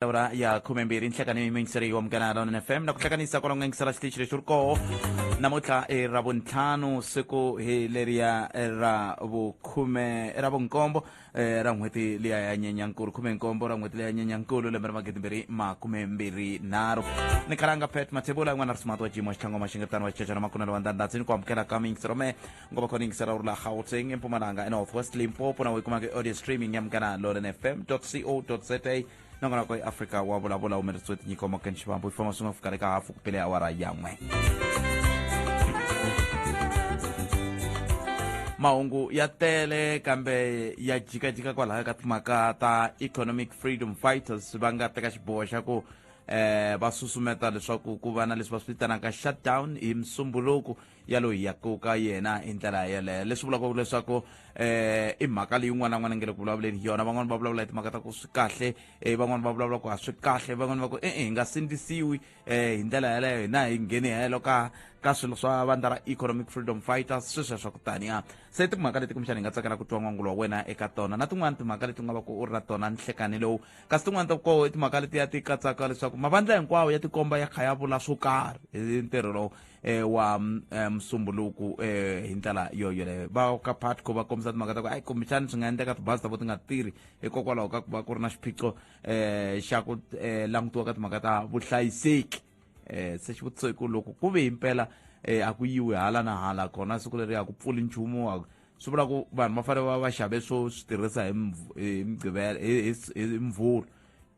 awara ya khume mbirhi nhlekani yingiseri wa munghana lona fm na ku hlanganisa kwalongo yingisela xitichi lexi ri koho namuntlha i ra vuntlhanu siku hi leriya ra vukhume ra vunkombo eh, ra n'hweti liya ya nyenyankulu khume nkombo ra n'hweti liya ya nyenyankulu lembe ra magidi mbirhi makume mbirhi nharhu ni khalanga pet mathebula yin'wana ri sumati wa jimo xitlhangoma xingetani wa xicecana makunelo wa ndandhatsi ni ku amukela ka miyingisero me ngoba khona ingisarawula gauteng empumalanga enorth west limpopo nawe kuma kwi-audio streaming yamkana lolen fm co za nangona kwa iafrika wa vulavula humelerisiwe tinyiko makani xivambo yi famba swi nga fikaka eka hafu kupele awara yan'we mahungu ya tele kambe ya jikajika kwalaho ka timhaka ta economic freedom fighters va nga teka xiboho xa ku eh va susumeta leswaku ku va na leswi va swi vitanaka shutdown hi musumbhuluku ya loyi ya koka yena hi ndlela yeleyo leswi vulaka leswaku eh i mhaka leyi un'wana na un'wana nge le ku vulavuleni yona van'wana va vulavula hi timhaka ta ku swi kahle eh van'wana va vulavula ku a swi kahle van'wana va ku e-e hi nga sindzisiwi eh hi ndlela yeleyo hina hi ngheni helo ka ka swilo swa vandla ra economic freedom fighters swi sweswa ku taniya se timhaka leti kumbexana hi nga tsakela ku twa n'wangulo wa wena eka tona na tin'wana timhaka leti u nga va ku u ri na tona nhlekani lowu kasi tin'wana ta koho i timhaka leti ya ti katsaka leswaku mavandla hinkwawo ya tikomba ya kha ya vula swo karhi hi ntirho lowu eh, wa eh, musumbunuku eh, hi ndlela yo yoleyo va ka patco va kombisa timhaka ta ku ayi kumbexani swi nga endleka tibazi ta vo ti nga tirhi hikokwalaho ka ku va ku ri na xiphiqo eh, xa ku eh, langutiwa ka timhaka ta vuhlayiseki eh, se xivutiso i ku loko ku ve himpela eh, a ku yiwi hala na hala kona siku leri a ku pfuli nchumu a ku- swi vula ku vanhu va fanele va va xave swo swi tirhisa hi Mv- hi Mgqivela- hi- hi- hi mvhulu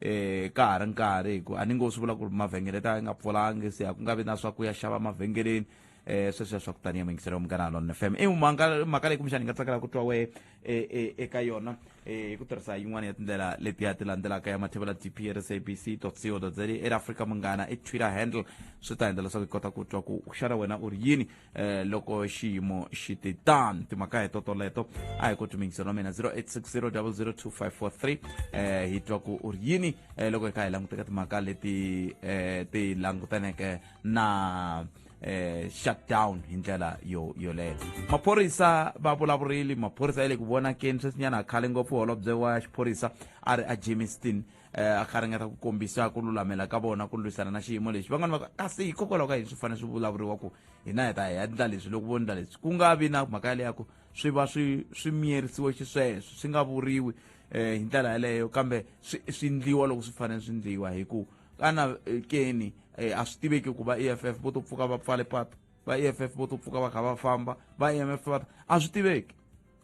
eh ka ha ri nkarhi hi ku a ni ngo swi vula ku ri mavhengele ta nga pfulangi se a ku nga vi na swa ku ya xava mavhengeleni eh sweswo swa ku taniya mingiselo munghana lon fm i mhaka mhaka leyi kumbexani hi nga tsakela ku twa wehe eh, eh, eka yona eh, hi ku tirhisa yin'wana ya tindlela letiya ti landzelaka ya mathevela dp rsabc co za air africa munghana i twitter handle swi ta endla leswaku hi kota ku twa ku xana wena u ri yini eh loko xiyimo xi ti tan timhaka hi totoleto a hi ku tumingiselo mina 0860002543 eh hi twa ku u ri yini eh loko hi kha hi languteka timhaka leti eh ti langutaneke na eh shutdown hi ndlela yo yoleyo maphorisa va vulavurili maphorisa ya le ku vonakeni sweswinyana khale ngopfu holobye wa xiphorisa a ri a jameson eh, a garingeta ku kombisa ku lulamela ka vona ku lwisana na xiyimo lexi van'wana va kasi hikokwalaho ka yini swi fanele swi vulavuriwa ku hina hi ta hi endla leswi loko vo endla leswi ku nga vi na mhaka yaleya ku swi va swi swi miyerisiwe xisweswo swi nga vuriwi um hi ndlela yaleyo kambe swi swi ndliwa loko swi fanele swi ndliwa hi ku kana eh, keni eh, a swi tiveki ku va e f f vo to pfuka va pfale patu va e f f vo to pfuka va kha va famba va e m f va a swi tiveki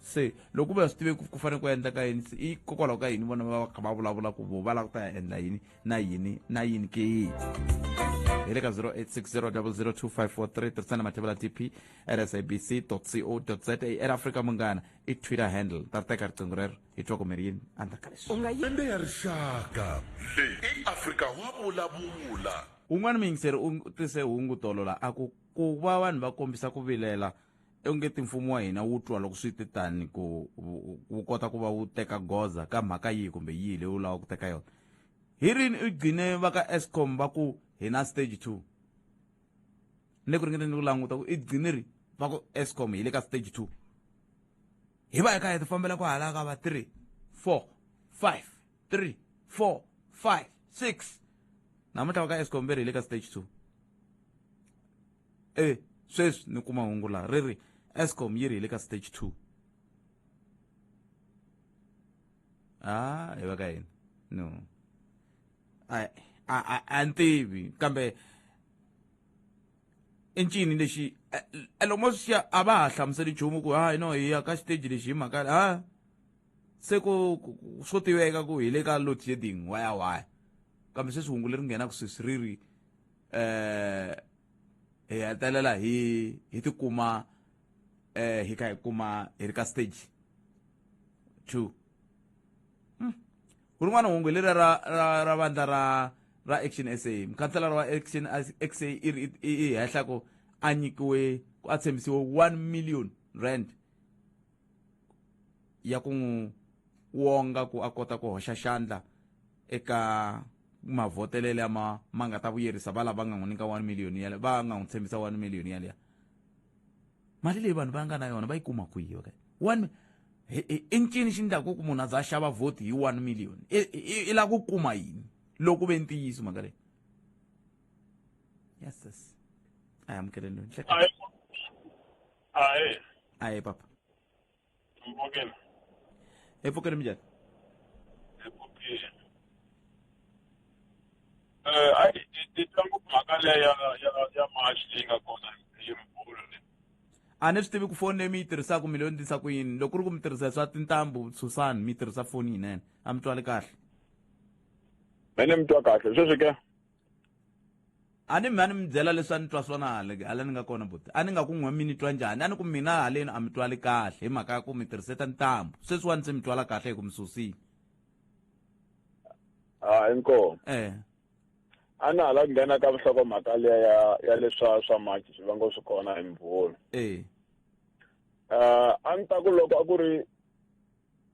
se loko va swi tive ku ku fanele ku endla ka yini i kokwalaho ka yini vona va va kha va vulavula ku vo va lava ku ta ya endla yini na yini na yini ke hi le ka 0860002543 tirhisana mathevela tp at sabc co za at africa munghana i twitter handle ta teka riqingho rero hi twa kumeri yini andla ka leswi lembe ya rixaka leyi i afrika wa vulavula un'wana muyingiseri u tise hungu tolo la a ku ku va vanhu va kombisa ku vilela ongeti mfumo wa hina wu twa loko swi te tani ku wu kota ku va wu teka goza ka mhaka yihi kumbe yihi leyi wu lava ku teka yona hi rini u gcine va ka escom va ku hi na stage two ni le ku ringeteni ku languta ku i gcine ri va ku escom hi le ka stage two hi va hi kha hi ti fambela ku hala ka va three four five three four five six namuntlha va ka escom ve ri hi le ka stage two e sweswi ni kuma hungu laha ri ri escom yi ri hi le ka stage two a hi va ka yini no a a a ni tivi kambe i ncini lexi lomo swi a va ha hlamuseli nchumu ku hayi no hi ya ka xiteji lexi hi mhaka ha se ku swo tiveka ku hi le ka load shedding waya waya kambe sweswi hungu leri nghenaka sweswi ri ri eh hi hetelela hi hi tikuma eh hi ka hi kuma hi ri ka stage 2 hmm. ku rin'wana hungu leri ra ra ra vandla ra ra action sa mukhanselara wa action sa i ri i hehla ku a nyikiwe ku a tshembisiwe 1 million rand ya ku n'wi wonga ku a kota ku hoxa xandla eka mavhotelele ma ma nga ta vuyerisa va lava nga n'wi nyika one million yale va nga n'wi tshembisa one million yaliya mali leyi vanhu va nga na yona va yi kuma kwihi okay one i ncini xi ndlaku ku munhu a za a xava vhoti hi one million i lava ku kuma yini loko ve ntiyiso mhaka leyi yes yes a hi amukeleni Ah, eh. Ah, eh, papa. Mpokela. Eh, mpokela mjani. Ekuti. Eh, ai, titangu makale ya ya ya mashi leyi nga kona hi mbulu leyi. a ni swi tivi ku foni leyi mi yi tirhisaka mi leyo ndisa ku yini loko ku ri ku mi tirhisa swa tintambu susani mi tirhisa foni yinene a mi twali kahle Mene mi twa kahle. Sweswi ke. a ni mi a ni mi byela leswi a ni twa swona hale hala ni nga kona buti a ni nga ku n'we mi ni twa njhani a ni ku mina haleni a mi twali kahle hi mhaka ya ku mi tirhiseta ntambu sweswiwani se mi twala kahle hi ku mi susile a inkomo eh a na hala nghena ka vuhlokomhaka leya ya ya leswa swa maji swi vanga swi kona hi mvula eh uh, a ni ta ku loko a ku ri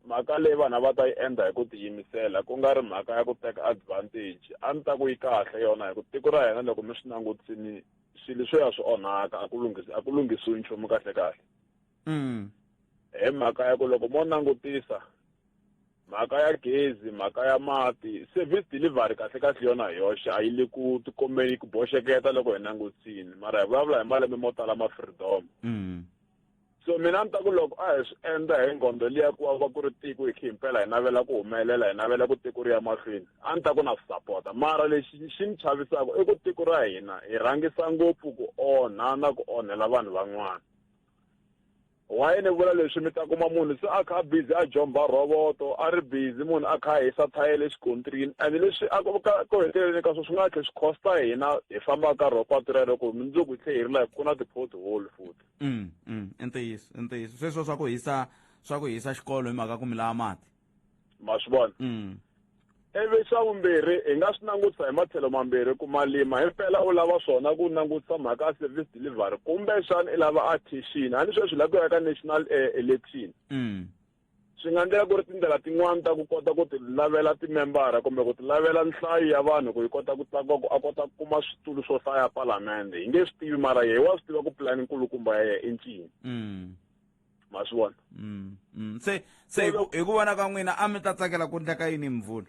mhaka leyi vanhu a va ta yi endla hi ku tiyimisela ku nga ri mhaka ya ku teka advantage a ni ta ku yi kahle yona hi ku tiko ra hina loko mi swi langutisini swilo swo ya swi onhaka a ku lunghisi a ku lunghisiwi nchumu kahle kahle mm. hi mhaka ya ku loko mo langutisa mhaka ya gezi mhaka ya mati service delivery kahle kahle yona hi yoxe a yi le ku tikombeni ku boxeketa loko hi langutisini mara hi vulavula hi malembe mo tala ma freedom mm. so mina ni ta ku loko a hi swi endla hi nghondo liya ku va ku ri tiko hi khe himpela hi navela ku humelela hi navela ku tiko ri ya mahlweni a ni ta ku na swi sapota mara lexi xi ni chavisaka i ku tiko ra hina hi rhangisa ngopfu ku onha na ku onhela vanhu van'wana why ni vula leswi mi ta kuma munhu se a kha a busy a jomba roboto a ri busy munhu a kha a hisa thayele xikontrini and leswi a ku heteleleni ka swo swi nga tlhe swi costa hina hi fambaka ka rho patu rero ku mundzuku hi tlhe hi ri like ku na ti-pothole futhi mm, mm, i ntiyiso i ntiyiso sweswo swa ku hisa swa ku hisa xikolo hi mhaka ku mi lava mati ma swi vona mm. ivi xa vumbirhi hi nga swi langutisa hi matlhelo mambirhi ku malima hi mpela u lava swona ku langutisa mhaka ya service delivery kumbexana i lava a thixini a ni sweswi la ku ya ka national eh, election mm. Swi nga endleka ku ri tindlela tin'wana ta ku kota ku tilavela timembara kumbe ku tilavela nhlayo ya vanhu ku yi kota ku tlakuka ku a kota ku kuma switulu swo hlaya palamende hi nge swi tivi mara yehe wa swi tiva ku pulani nkulukumba ya yehe i ncini mm. ma swi vona mm, mm. se se hi ku vona ka n'wina a mi ta tsakela ku ndleka yini mvula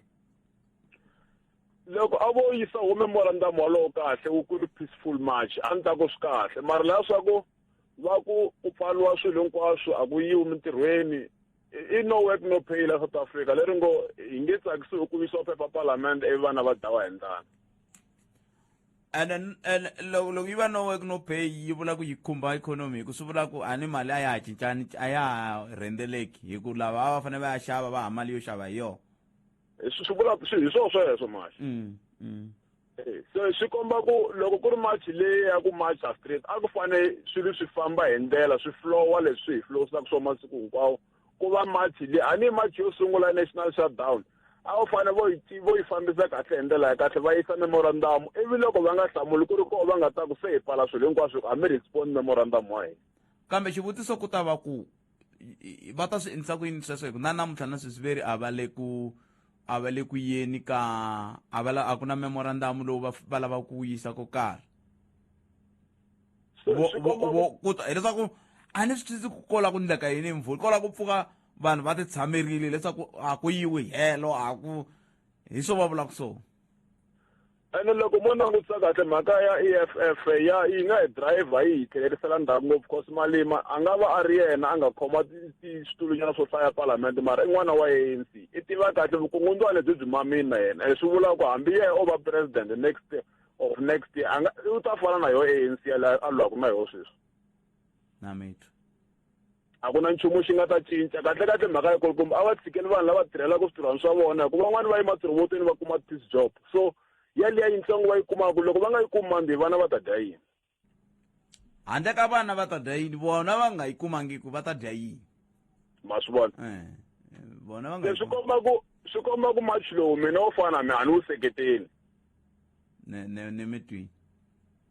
loko a vo yisa home morandam walowo kahle wu ku ri peaceful march a ni ta ku swi kahle mara laha swa ku va ku ku pfaliwa swilo hinkwaswo a ku yiwi mintirhweni i no work no pay la south africa leri ngo hi nge tsakisiwi ku yisiwa phepha palamende ivi vana va dlawa hi ndlana ene ene loko loko yi va no work no pay yi vula ku yi khumba ikhonomi hi ku swi vula ku a ni mali a ya ha cincani a ya ha rhendzeleki hi ku lava a va fanele va ya xava va ha mali yo xava hi yona swi vula hi swona sweswo mali mm, mm. eh, so swi komba ku loko ku ri march leyi ya ku marcha street a ku fanele swilo swi famba hi ndlela swi flowa leswi hi flowsaka swo masiku hinkwawo ku va march leyi a ni march yo sungula national shutdown a wu fanele vo yi vo yi fambisa kahle hi ndlela ya kahle va yisa memorandum ivi loko va nga hlamuli ku ri koho va nga ta ku se hi pfala swilo hinkwaswo a mi respond memorandum wa hina kambe xivutiso ku ta va ku va ta swi endlisa ku yini sweswo hi ku na namuntlha na sweswi veri a va le ku a va le ku yeni ka a va a ku na memorandamu lowu va lavaka ku yisa ko karhi kuta hileswaku a ni swi twisisi ku kola ku ndleka yini hi mvula kola ku pfuka vanhu va ti tshamerile leswaku a ku yiwi helo a ku hi swo va vulaka swona ene loko mo langutisa kahle mhaka ya e f f ya yi nga hi driver yi hi tlhelerisela ndzhaku ngopfu cause malima a nga va a ri yena a nga khoma switulunyana swo hlaya palamende mara i n'wana wa anc i tiva kahle vukungundzwa lebyi byi mamina yena ene swi vulaka ku hambi yena o va president next of next year a nga u ta fana na yoho anc a lwaku na yoho sweswi na mitwa a ku na nchumu xi nga ta cinca kahlekahle mhaka ya kona kumbe a va tshikeli vanhu lava tirhelaka swintirhwani swa vona hikuva van'wani va ematirhobotweni va kuma peace job so yaliya yintsongo va yi kumaka loko va nga yi kumi mandi vana va ta dya yini handle ka vana va ta dya yini vona va nga yi kumangiku va ta dya yini ma swi vona eh, eh, vona va nga swi komba ku swi komba ku match lowu mina wo fana mi a ni wu seketeli ni mi twini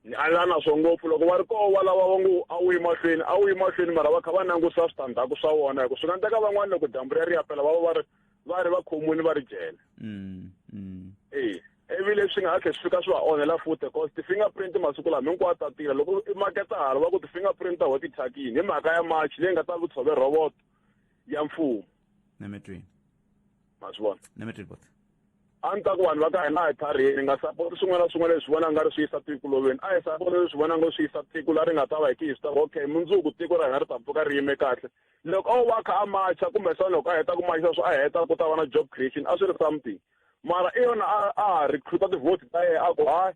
nyalana swo ngopfu loko va ri koho wa lava va ngo a wu yi mahlweni a wu yi mahlweni mara va kha va langusa switandzhaku swa wona hi ku swi nga ndeka van'wana loko dyambu ri ri yapela va va va ri va ri va khomuni va ri jele mm, mm. e ivi leswi nga ha tlhe swi fika swi va onhela futhi cause ti-finger print masiku lama hinkwawo ta tirha loko i maketa hala va ku ti-finger print ta ho ti thyakini hi mhaka ya march leyi nga ta vutshove roboto ya mfumo ma swi vona ni mi twi buti a ni ta ku vanhu va ka hina a hi tlhariheni nga sapoti swin'wana na swin'wana leswi vona nga ri swi yisa tiko loveni a hi sapoti leswi vona nga swi yisa tiko la ri nga ta va hi ti hi swi tava okay mundzuku tiko ra hina ri ta pfuka ri yime kahle loko o va kha a macha kumbe xana loko a heta ku macha swo a heta ku ta va na job creation a swi ri something mara i yona a a recruita ti-vote ta yena a ku hayi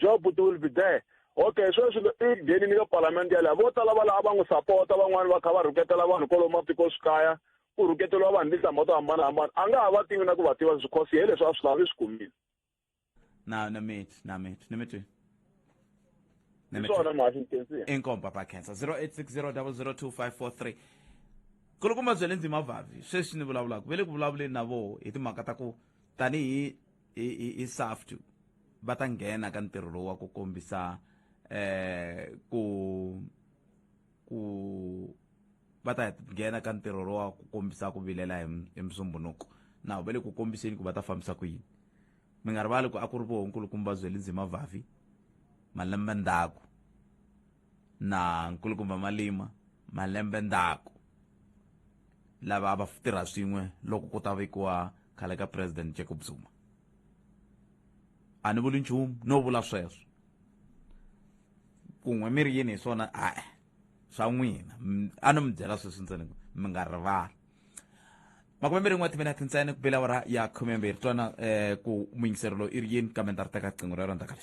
job ti will be there okay sweswi i nghenini ka palamende yaleyo vo tala va lava va n'wi sapota van'wani va kha va rhuketela vanhu kwalomu matikoxikaya ku rhuketeriwa vanhu tinhlamba to hambanahambana a nga ha va tivi na ku va tiva because hi leswi a swi lava i swi kumile na na mit na mit na mit swona mhasi intensive inkomba ba cancer 0860002543 kulukumba bya le ndzima vavi sweswi ni vulavulaka ve le ku vulavuleni na voho hi timhaka ta ku tanihi hi saft va ta nghena ka ntirho lowu wa ku kombisa eh ku ku va ta nghena ka ntirho lowa ku kombisa ku vilela hi musumbunuko na va le ku kombiseni ku va ta fambisa ku yini mi nga rivali ku a ku ri vohonkulukumba byeli ndzima vavi malembe ndzhaku na nkulukumba malima malembe ndzhaku lava va tirha swin'we loko ku ta vekiwa khale ka president jacob zuma a ni vuli nchumu no vula sweswo ku n'we mi ri yini hi swona a swa n'wina a no mi byela sweswi ntsena ku mi nga rivali makume mbirhi n'we timinete ntsena ku bela wara ya khume mbirhi twana um eh, ku muyingiseri lowu i ri yini kambe ndza ri teka riqingho ra rondaka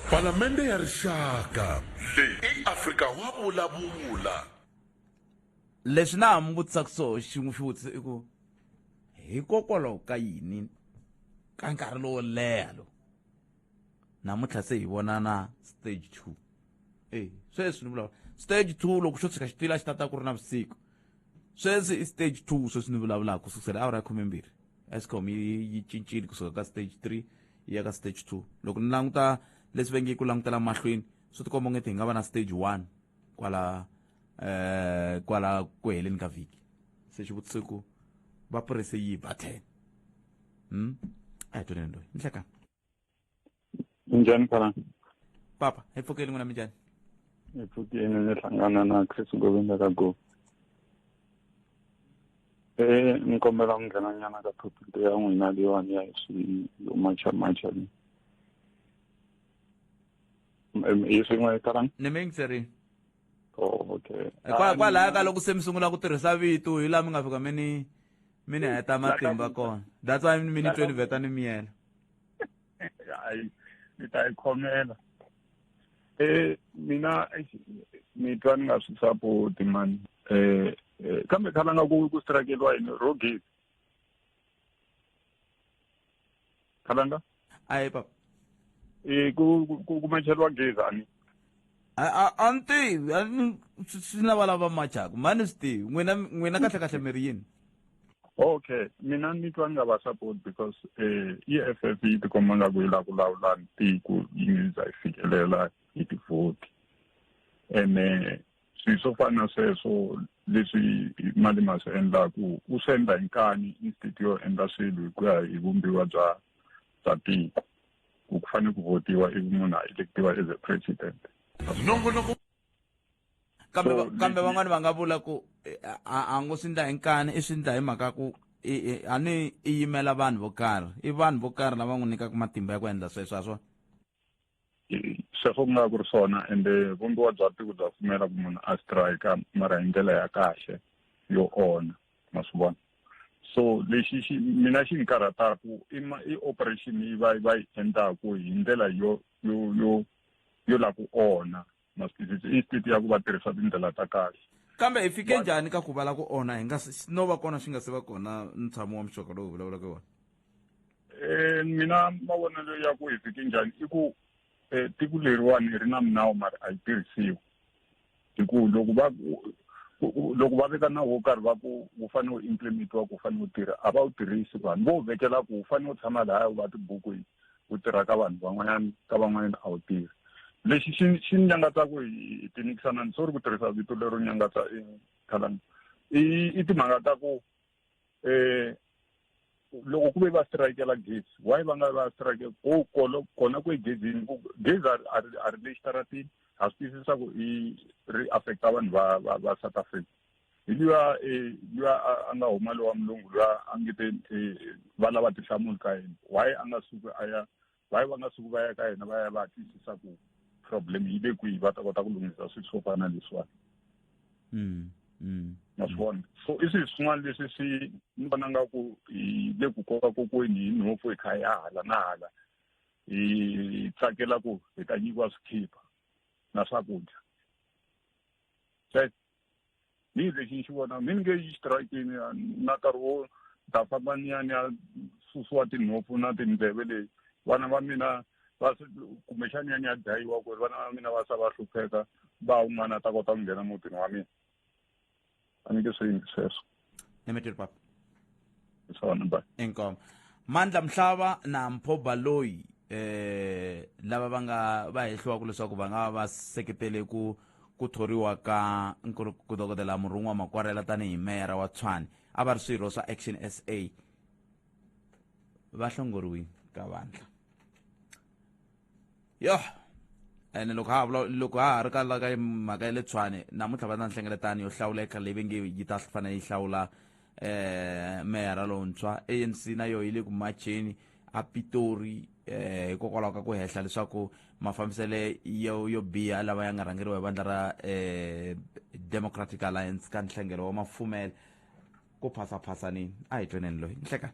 palamende ya rixaka leyi i afrika wa vulavula leswi na ha mi vutisaka swo xin'we xi vutisa i ku hikokwalaho ka yini ka nkarhi lowo leha lowu namuntlha se hi vona na stage two e sweswi ni vulavula stage two loko xo tshika xitila xi tata ku ri na vusiku sweswi i stage two sweswi ni vulavulaka ku sukusela awara ya khumembirhi escom yi cincile kusuka ka stage three yi ya ka stage two loko ni languta leswi va nge ku langutela mahlweni swi tikomba ongeti hi nga va na stage one kwala um kwala ku heleni ka vhiki se xivutiso ku va purese yi ba ten mm? a hi toleni loyi nhleka njhani phala papa hi pfukeli n'wina mi njhani hi pfukeni ni hlangana na chris govinda ka go e eh, ni kombela ku nghenanyana ka topic ya n'wina leyiwani ya hi swi yo macha macha leyi Em- hi swin'we karani ni mi yingiserile oh okay Kwa- kwalaya ka loko se mi sungula ku tirhisa vito hi laha mi nga fika mi ni mi ni heta matimba kona that's why mi ni tweni vheta ni miyela hayi ni ta yi khomela eh mina eish, ni twa ni nga swi sapoti mani eh eh, kambe khala nga ku ku strakeliwa yini rogesi khalanga ayi papa e ku ku- ku kumacheriwa gezi ani a a- a ni tivi a ni- swi swi na valava machaka mani swi tivi n'wina n'wina kahle kahle mi ri yini okay mina ni twa ni nga va support because eh i f f yi tikomba nga ku yi la ku lawula tiko yi nge za yi fikelela hi tivhoti ene swilo swo fana na sweswo leswi mali ma swi endlaka u swi endla hi nkani instead yo endla swilo hi ku ya hi vumbiwa bya bya tiko ku ku fanele ku votiwa ivi munhu a elektiwa as a president nongonoko kambe So, kambe leswi- van'wani va nga vula ku eh, a a ngo swi ndla hi nkani i swi ndla hi mhaka ku i- i- a ni i yimela vanhu vo karhi i vanhu vo karhi lava n'wi nyikaka matimba ya ku endla sweswo a swona sweswo ku nga ku ri swona ende vumbiwa bya tiko bya pfumela ku munhu a strike mara hi ndlela ya kahle yo ona ma swi vona so lexi xi mina xi ni karhataku i ma i operation yi va va yi endlaku hi ndlela yo yo yo yo la ku ona na swi twisisi i state ya ku va tirhisa tindlela ta kahle kambe hi fike njhani ka ku vala ku onha hi nga no va kona swi nga se va kona ntshamo wa muxoka lowu vulavulaka wona um mina mavonelo ya ku hi fike njhani i ku um tiko leriwani hi ri na minawu mara a yi tirhisiwi hi ku loko va loko va veka nawu wo karhi va ku wu fanele wu implementiwa ku wu fanele wu tirha a va wu tirhisi vanhu vo wu vekela ku wu fanele wu tshama lahaya wu va tibukwini ku tirha ka vanhu van'wanyana ka van'wanyana a wu tirhi lexi xi xi ni nyangatsaku hi tinikisana ni sori ku tirhisa vito lero nyangatsa i khalani i i timhaka ta ku um loko ku ve va strikela gezi why va nga va strike ko kolo kona ku egezini gezi a ri a ri le xitaratini ha swi twisisa ku i ri affecta vanhu va va va south africa hi luya eh, luya a nga huma lowa mulungu luya a nge te eh, va lava tinhlamulo ka yena why a nga suki a ya why va nga suki va ya ka yena va ya va twisisa ku problem yi le kwihi va ta kota ku lunghisa swilo swo fana leswiwani mm, mm. ma swi vona so i swilo swin'wana leswi swi ni vona nga ku hi le ku koka kokweni hi nhopfu hi kha hi ya hala na hala hi tsakela ku hi ta nyikiwa swikhipha na swakudya ni lexi ni xi vona mi ni nge yi xitirayikini na nkarhi wo ta famba ni ya ni ya susiwa tinhompfu na tindleve leyi vana va mina va kumbexani ya ni ya dlayiwa ku ri vana va mina va sa va hlupheka va un'wana a ta kota ku nghena mutini wa mina a ni nge swi yingi sweswo nemetere papa swona ba inkomo mandla mhlava na mpho baloyi eh lava va nga va hehliwaka leswaku va nga va seketele ku ku thoriwa ka nkulu ku dokodela murhun'wa makwarela tanihi meyara wa tshwane a va ri swirho swa action sa va hlongoriwile ka vandla yo ene loko ha vula loko ha ha ri ka la ka mhaka ya le tshwane namuntlha va na nhlengeletano yo hlawuleka leyi ve nge yi ta fanele yi hlawula eh meyara lontshwa anc na yoho yi le ku macheni a pitori eh hikokwalaho ka ku hehla leswaku mafambisele yo yo biha lava ya nga rhangeriwa hi vandla ra eh democratic alliance ka nhlengelo wa mafumela ku phasaphasanini a hi tweneni loyi nhlekani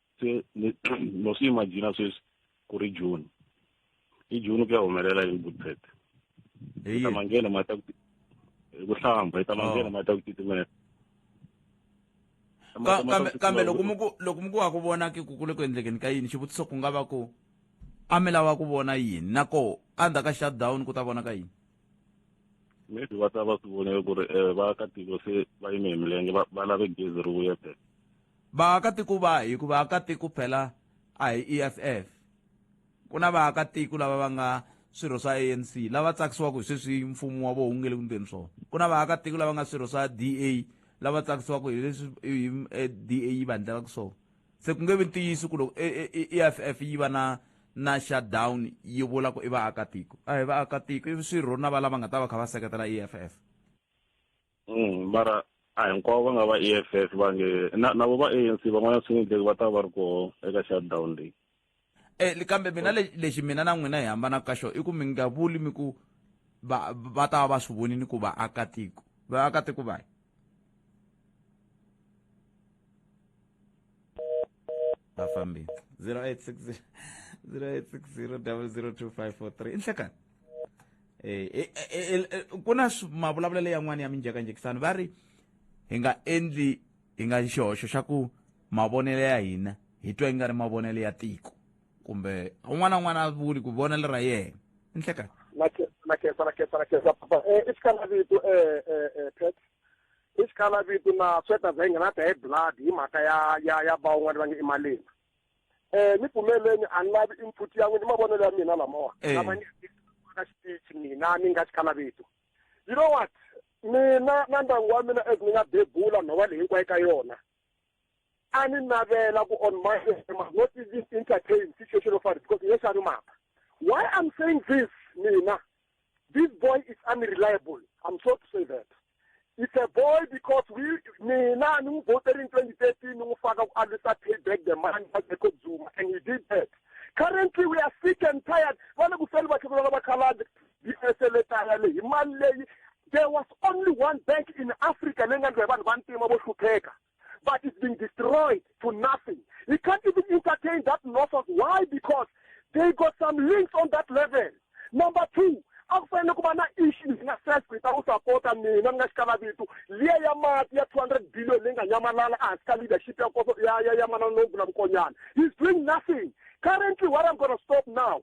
se no swi imagina sweswi ku ri june i june ku ya humelela yini budget i ta manghena ma ta ku hlamba i ta manghena oh. ma ta ku titimela kambe loko mi ku loko mi ku wa ku vona ke ku kule ku endlekeni ka yini xivutiso ku nga va ku a mi lava ku vona yini na ko a ndzhaku ka shutdown ku ta vona ka yini maybe va ta va swi voneke ku ri um vaakatiko se va yime hi milenge va lave gezi ri vuya back Vaakatiko va hi ku vaakatiko phela a hi EFF ku na vaakatiko lava va nga swirho swa ANC lava tsakisiwaka hi sweswi mfumo wa vona wu nge le ku ndleni swona ku na vaakatiko lava nga swirho swa DA lava tsakisiwaka hi leswi eh, DA yi va endlelaka swona se ku nge vi ntiyiso ku loko EFF eh, eh, yi va na na shutdown yi vula ku i vaakatiko a hi vaakatiko i swirho na va lava nga ta va kha va seketela EFF Mm, mara a hinkwavo va nga va EFF va nge na na vo va ANC van'wana swi endleki va ta va ri koho eka shutdown leyi eh li- kambe mina le- lexi mina na n'wina hi hambanaka ka xona i ku mi nga vuli mi ku va va ta va va swi vonini ku vaakatiko vaakatiko vahi va fambile 0860 0860 inhlekani eh, eh, eh, ku na mavulavulelo yan'wana ya minjekanjekisano va ri hi nga endli hi nga xihoxo xa ku mavonelo ya hina hi twa yi nga ri mavonelo ya tiko kumbe un'wana un'wana a vuli ku vonelo ra yena inhlekani nakesa nakesa nakesa papa i xikanavito um pet i xikalavito na sweta bya yinga na ta hi blood hi mhaka ya ya ya ba un'wana va nge i malemba um ni pfumeleni a ni lavi input ya n'wina i mavonelo ya mina lamawa lama ni ka xitichi mina ni nga xikalavito you know what mina na ndyangu wa mina as ni nga bebula nhova leyi hinkwayo ka yona a ni navela ku on my not even entertain situation of ours because yes ani mhaka why i'm saying this mina this boy is unreliable i'm sorry to say that it's a boy because we mina ni n'wi voteri in 2013 ni n'wi faka ku alwisa pay back the money ya jacob zuma and he did that currently we are sick and tired va le ku feli vakhekula lava khaladi yi eseletaya leyi hi mali leyi there was only one bank in africa leyi nga ndliwa hi vanhu va ntima vo hlupheka but it's been destroyed to nothing. He can't even entertain that nonsense. Why? Because they got some links on that level. Number two, a ku fanele ku va na issue leyi nga stress ku yi ta ku sapota mina mi nga xikala vito liya ya mati ya two hundred billion leyi nga nyamalala ehansi ka leadership ya koso ya ya ya manana lowu vula vukonyana he's doing nothing currently what i'm gonna stop now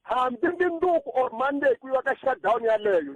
hambi mindzuku or monday ku yiwa ka shutdown yaleyo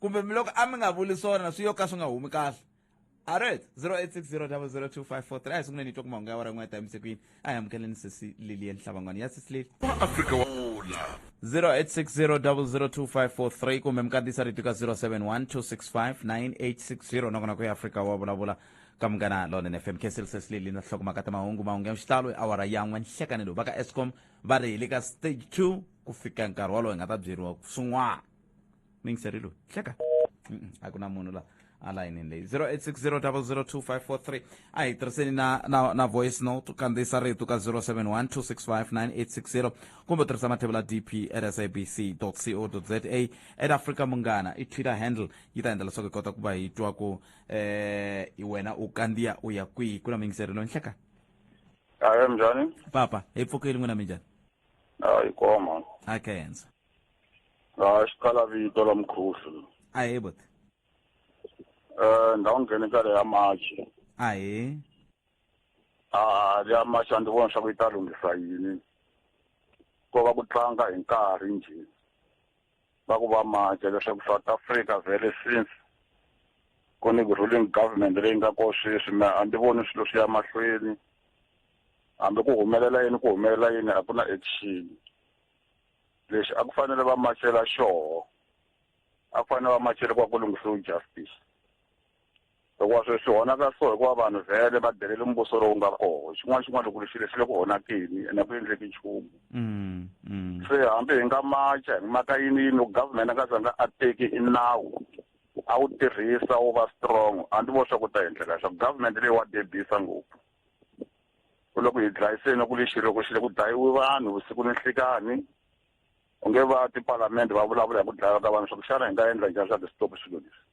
kumbe mi loko a mi nga vuli swona swi yo ka swi nga humi kahle alright 0860002543 a hi sunguleni hi twa ku mahungu ya wara n'we ya timise kwini a hi amukeleni sesi lilian hlavan'wana ya sesi lili wa afrika wa vula 0860002543 kumbe mi kandziyisa rito ka 0712659860 nakona ku ya afrika wa vulavula ka munghana lonen fm kessel sesi lili na hlokomaka ta mahungu mahungu ya xitalo hi awara ya n'we nhlekanelo va ka escom va ri hi le ka stage 2 ku fika nkarhi wolowo hi nga ta byeriwa swin'wana mingseri loyi hleka a ku na munhu la a layinini leyi 0860002543 a hi tirhiseni na, na, na voice note kandziyisa rito ka 0712659860 kumbe tirhisa mathevula dp at sabc co za at africa munghana i twitter handle yi ta endla leswaku hi kota ku va hi twa ku eh hi wena u kandziya u ya kwihi ku na mingiseri loyi nhleka ayo njhani papa hi pfukeli n'wina minjhani a yi koma a kenza Ah, xiqala vito la mukhuhlu. Ahee buti. Eh, ndhawu nghene ka leya machi. Ahee. Ah, leya machi a ndzi vona swa ku yi ta lunghisa yini. Ko va ku tlanga hi nkarhi njhe. Va ku va machi leswaku South Africa very since ku ni ruling government leyi nga ko sweswi me a ndzi voni swilo swi ya mahlweni. Hambi ku humelela yini ku humelela yini a ku na action. lexi a ku fanele va machela xoho a ku fanele va machele kwa ku lunghisiwa justice hikuva swilo swi honaka so hikuva vanhu vhele va delele mbuso lowu nga koho xin'wana xin'wana loko lexi lexi le ku honakeni ene ku endleki nchumu mm, mm. se hambi hi nga macha hi maka yini yini loko government a nga zanga a teki i nawu a wu tirhisa wu va strong a ndzi vo swa ku ta endleka leswaku government leyi wa debisa ngopfu u le ku hi dlayiseni ku lexi loko xi le ku dlayiwi vanhu vusiku ni nhlikani u nge va tipalamende va vulavula hi ku dlayiwa ka vanhu swa ku xana hi nga endla njhani swa ti-stop swilo leswi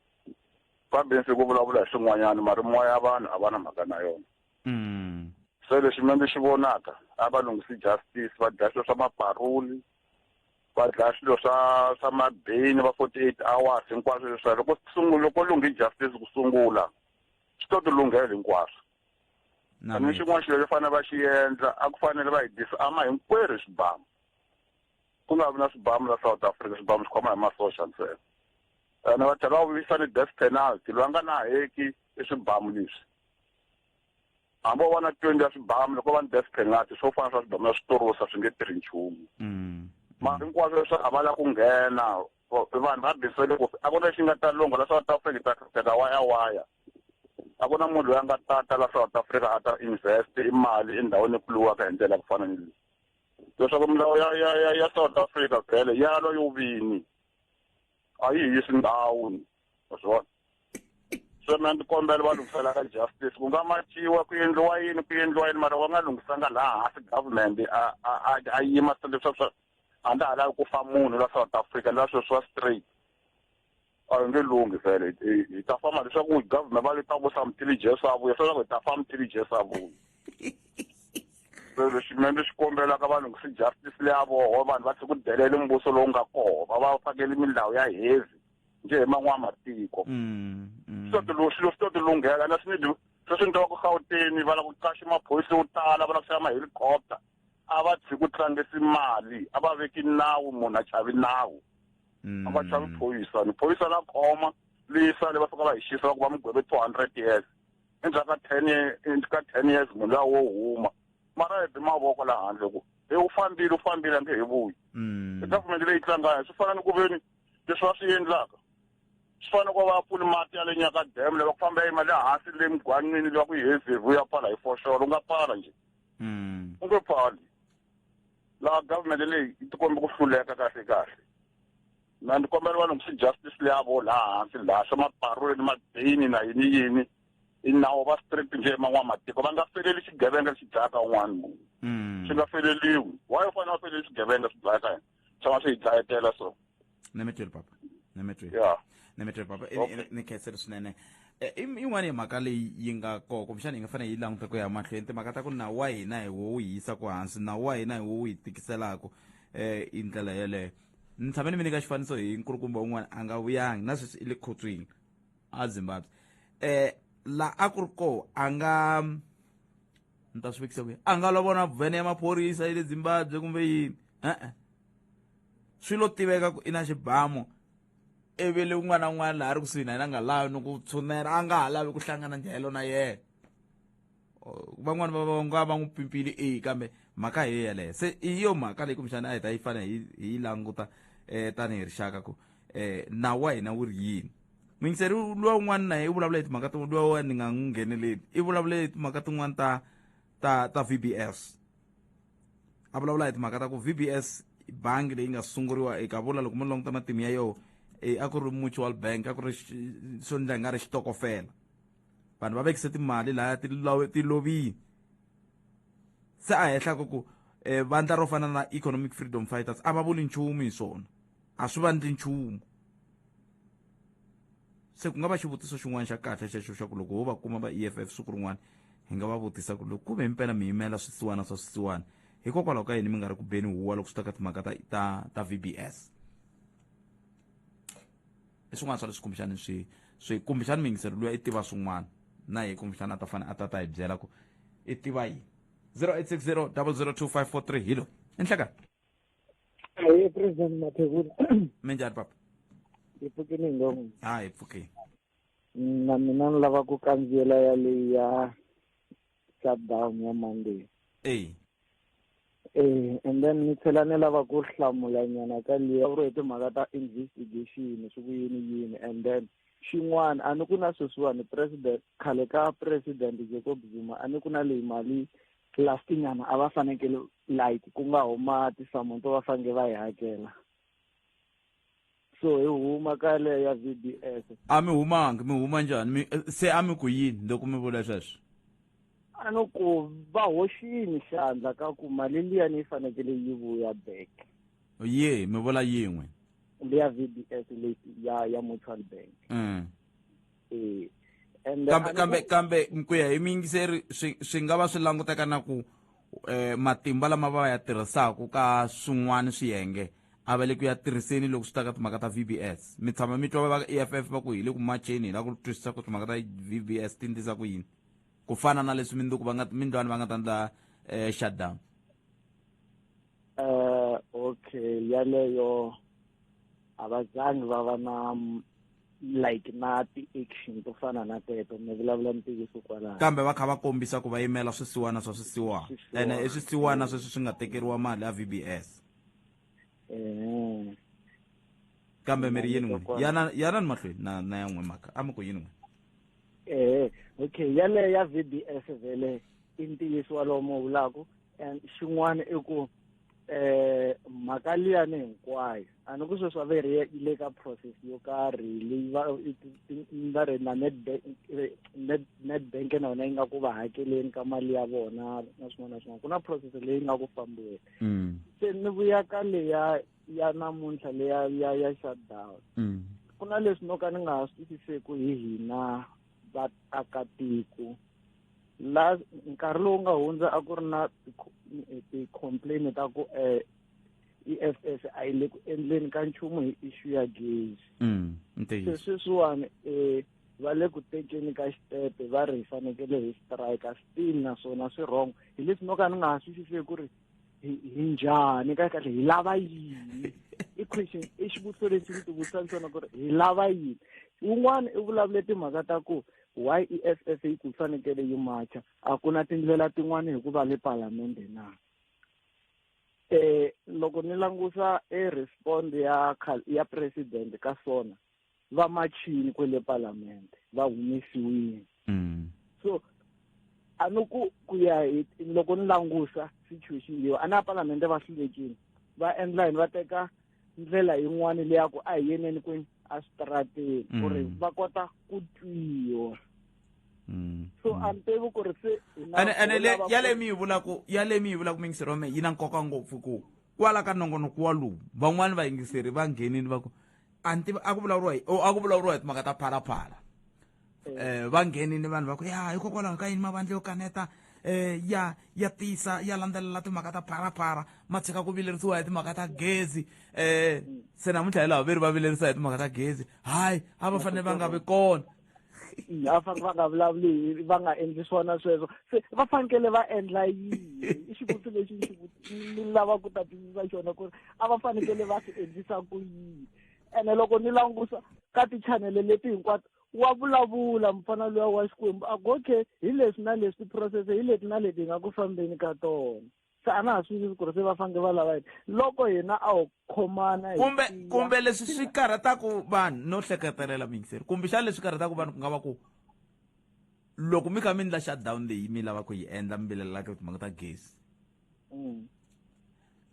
fambinsi ku vulavula hi swin'wanyana mari moya ya vanhu a va na mhaka na yona mm. se lexi mina ndzi xi vonaka a va lunghisi justice va dlaya swilo swa maparuli va dlaya swilo swa swa mabeyini va forty eight hours hinkwaswo leswiya loko sungula loko lunghi justice ku sungula swi to ti lunghela hinkwaswo na xin'wana xilo xo fanele va xi endla a ku fanele va hi disama hinkwerhu hi swibamu ku nga vi na swibamu la south africa swibamu swi khoma hi masoxa ntsena ene va tlhela va vuyisa ni death penalty loyi a nga na heki i swibamu leswi hambi wo vona twenty ya swibamu loko va ni death penalty swo fana swa swibamu ya switorosa swi nge tirhi nchumu mm. mara hinkwaswo leswi a va la ku nghena vanhu va bisele ku a ku na xi nga ta lungha la south africa ta ta waya waya A ku na munhu loyi a nga ta ta la South Africa a ta invest i mali endhawini leyi pfuriwaka hi ndlela ya ku fana ni leyi leswaku milawu ya ya ya ya South Africa vhele ya lwa yo vini a yi hisi ndhawu ni wa swi vona se mina ndzi kombela va lunghisela ka justice ku nga machiwa ku endliwa yini ku endliwa yini mara va nga lunghisanga laha hansi government a a a a yima se leswaku a ndza ha lavi ku fa munhu la South Africa la sweswi wa straight a hi nge lunghi vhele hi ta famba leswaku government va leta ku samutili jesu a vuya swaku hi ta famutili jesu a vuya so lexi mina ni xi kombelaka vanhu ku si justice leya voho vanhu va tlhe ku delele mbuso lowu nga koho va va fakele milawu ya heavy nje hi man'wana matiko mm, mm. swi to ti swi to ti lunghela na swi ni sweswi ni tava ku gauteni va lava ku qaxa maphorisa yo tala va lava ku xava mahelicopter a va tshiki ku tlangisi mali a va veki nawu munhu a chavi nawu a va chavi mm. phoyisa ni phoyisa la khoma leyi sale va fika va hi xisa va ku va mi gweve two hundred years endzhaku ka ten years ka ten years munhu luya wo huma mara hi bi mavoko la handle ku e u fambile u fambile a nge he vuyi mm. i government leyi tlangana swi fana ni ku veni leswi va swi endlaka swi fana ku va pfuli mati ya le nyaka dam le va ku famba yima le hansi le mugwanini le va ku yi hezevu ya pala hi foxolo u nga pala njhe mm. u nge pali laha government leyi yi tikombe ku hluleka kahle kahle na ni kombela vanhu ku justice leyavo laha hansi laha swa maparule ni madini na yini yini i nawu va street nje man'wamatiko va nga feleli xigevenga lexi dlayaka un'wana munhu hmm. swi nga feleliwi why u fanele va feleli xigevenga swi dlayaka yena tshama swi hi dlayetela so nemetweri papa nemetweri ya nemetweri papa i- Okay. i- ni khensele swinene Eh, i- yin'wana ya mhaka leyi yi nga koko kumbexana yi nga fanele yi languta ku ya mahlweni timhaka ta ku nawu wa hina hi wo wu yi yisa ku hansi nawu wa hina hi wo wu yi tikiselaka um hi ndlela yeleyo ni tshame ni mi nyika xifaniso hi nkulukumba un'wana a nga vuyangi na sweswi i le khotsweni a zimbabwe um la a ku ri koho a nga ni ta swi vekisa kwihi a nga lovona vhene ya maphorisa ya le zimbabwe kumbe yini e-e swi lo tiveka ku i na xibamu evele un'wana na un'wana laha ri kusuhi na yena a nga lavi ni ku tshunela a nga ha lavi ku hlangana njhayelo na yena van'wani va va nga va n'wi pimpile e kambe mhaka hi yeleyo se i yo mhaka leyi kumbexana a hi ta yi fanele hi hi yi languta um tanihi rixaka ku um nawu wa hina wu ri yini mingiseri luwa un'wana na ye i vulavula hi timhaka tin'wana luwa wa ni nga n'wi ngheneleli i vulavule hi timhaka tin'wana ta ta ta v b s a vulavula hi timhaka ta ku v b s bangi leyi nga sunguriwa eka vula loko mo languta matimu ya yoho e, a ku ri mutual bank a ku ri swo ndla hi nga ri xitokofela vanhu va vekise timali laya ti lovini se a henhla ku ku um vandla ro fana na economic freedom fighters a va vuli nchumu hi swona a swi vandli nchumu se ku nga va xivutiso xin'wana xa kahle xexo xa ku loko ho va kuma va e f f siku rin'wana hi nga va vutisa ku loko ku ve himpela mi yimela swisiwana swa swisiwana hikokwalaho ka yini mi nga ri ku beni huwa loko swi ta ka timhaka ta ta ta v b s i swin'wana swa leswi kumbexani swi swi kumbexani muyingiseri luya i tiva swin'wana na ye kumbexani a ta fane a ta ta hi byela ku i tiva yini 0860 002 543 hi loyi i nhlekani Hi, President Mathebula. minjhani papa Hi pfukile hi ngoma. ha hi pfukeni Na mina ni lava ku kandziyela ya leyi ya shutdown ya Monday. eyi Eh, and then ni tlhela ni lava ku hlamula nyana ka liya u ri hi timhaka ta investigation swi ku yini yini and then xin'wana a ni ku na sweswiwani president khale ka president Jacob Zuma a ni ku na leyi mali plastic nyana a va fanekele like ku nga huma tisamu to va fange va yi hakela so hi huma ka leyo ya v d s a mi humangi mi huma njhani mi eh, se a mi ku yini loko mi vula sweswo a no ku va hoxini xandla ka ku mali liyani yi fanekele yi vuya back ye mi vula yin'we leya v d s leyi ya ya mutual bank mm. Eh, and kambe another- kambe kambe ku ya hi miyingiseri swi swi nga va swi languteka na ku eh, matimba lama va ya tirhisaka ka swin'wana swiyenge a va le ku ya tirhiseni loko swi ta ka timhaka ta vbs mi tshama mi twa va ka eff va ku hi le ku macheni hi la ku twisisa ku timhaka ta vbs ti ndlisa ku yini ku fana na leswi mindzuku va nga mindlwani va nga ta ndla eh, shutdown eh okay yaleyo abazange baba na like na ti-action to fana na teto ni vulavula ntiyiso kwalaho kambe va kha va kombisa ku va yimela swisiwana swa swisiwana ene i swisiwana sweswi swi nga tekeriwa mali ya v b s um kambe mi ri yini n'wini yana yana ni mahlweni na na ya n'we maka a mi ku yini n'wini eh okay yale ya VBS vele i ntiyiso walomo vulaku and xin'wana i ku eh mhaka liya ni hinkwayo a ni ku sweswi a ve ri yi le ka process yo karhi leyi va va ri na netbank na yona yi nga ku va hakeleni ka mali ya vona na swin'wana na swin'wana ku na process leyi nga ku fambiweni mm. se ni vuya ka leya ya namuntlha leya ya ya shutdown mm. ku na leswi no ka ni nga ha swi twisiseki hi hina vaakatiko la nkarhi lowu nga hundza a ku ri na ti-complain ta ku um i f s a yi le ku endleni ka nchumu hi issue ya gezi mm, se sweswiwani um va le ku tekeni ka xitepe va ri hi fanekele hi strike still naswona swi wrong hi leswi no ka ni nga ha swisiseki ku ri hi njhani ka kahle hi lava yini i question i xivutiso lexi ni tivutisa ntsena ku ri hi lava yini wun'wana i vulavule timhaka ta ku why i e s s yi ku fanekele yi macha a ku na tindlela tin'wana hikuva le palamende na um loko ni langusa e respond ya ya president ka sona va machini kwele palamende va humesiwile mm. so a ni ku ku ya hi loko ni langusa situation leyo a na palamende va hlulekile va endla yini va teka ndlela yin'wana leya ku a hi yeneni kwini a switarateni ku ri mm. va kota ku twiwa Mm. so mm. a ni tivi ku ri se ene le ya le mi yi vulaku ya le mi yi vulaku mingiseri wa mehe yi na nkoka ngopfu ku kwala ka nongonoko walowu van'wani vayingiseri va nghenini va ku a ni tivi a ku vulavuriwa hi o a ku vulavuriwa hi timhaka ta phalaphala um va nghenini vanhu va ku ya hikokwalaho ka yini mavandla yo kaneta um ya ya tisa ya landzelela timhaka ta phalaphala ma tshika ku vilerisiwa hi timhaka ta gezi um se namuntlha hi laha veri va vilerisa hi timhaka ta gezi hayi a va fanele va nga vi kona a fanele va nga vulavuli va nga endli swona sweswo se va fanekele va endla yini i xivutiso lexi ni lava ku ta twisisa xona ku ri a va fanekele va swi endlisa ku yini ene loko ni langusa ka tichanele leti hinkwato wa vulavula mfana luya wa xikwembu a ku okay hi leswi na leswi tiphurosese hi leti na leti hi nga ku fambeni ka tona se a na ha swi tivi ku ri se va fanele va lava yini loko yena a ho khomana kumbe kumbe leswi swi karhataku vanhu no hleketelela mingiseri kumbexana leswi karhataku vanhu ku nga va ku loko mi kha mi endla shutdown leyi mi lava ku yi endla mi vilelelaka timhaka ta gezi mm.